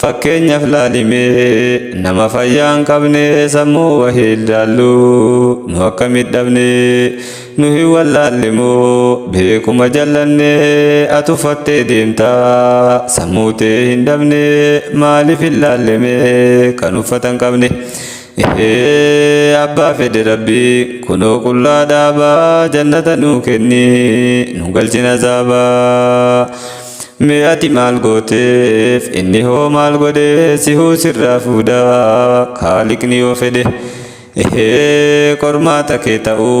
Fakkeenyaaf laali mee nama fayyaa hin qabne sammuu wahii ilaallu nu akkamitti dhabne nu hin wallaalle moo beekuma jallanne atu fattee deemta sammuu tee hin dhabne maaliif ilaalle mee kan uffata hin qabne Ehee abbaa fedhe rabbi kunoo qullaa dhaaba jannata nuu kenni nu galchin azaaba mee ati maal gooteef inni hoo maal godhe sihuu sirraa fuudha kaaliqni yoo fedhe ehee qormaata kee ta'uu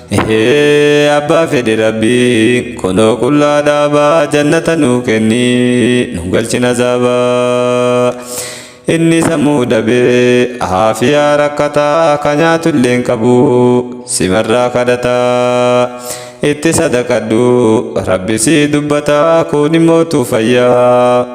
Ehee abbaa fedhe rabbiin kunoo qullaa dhaabaa jannata nuu kenni nu galchin azaabaa inni sammuu dhabee haafiyaa rakkataa ka nyaatullee hin qabu simarraa kadhataa itti sadaqadhu rabbi sii dubbataa kun immootu fayyaa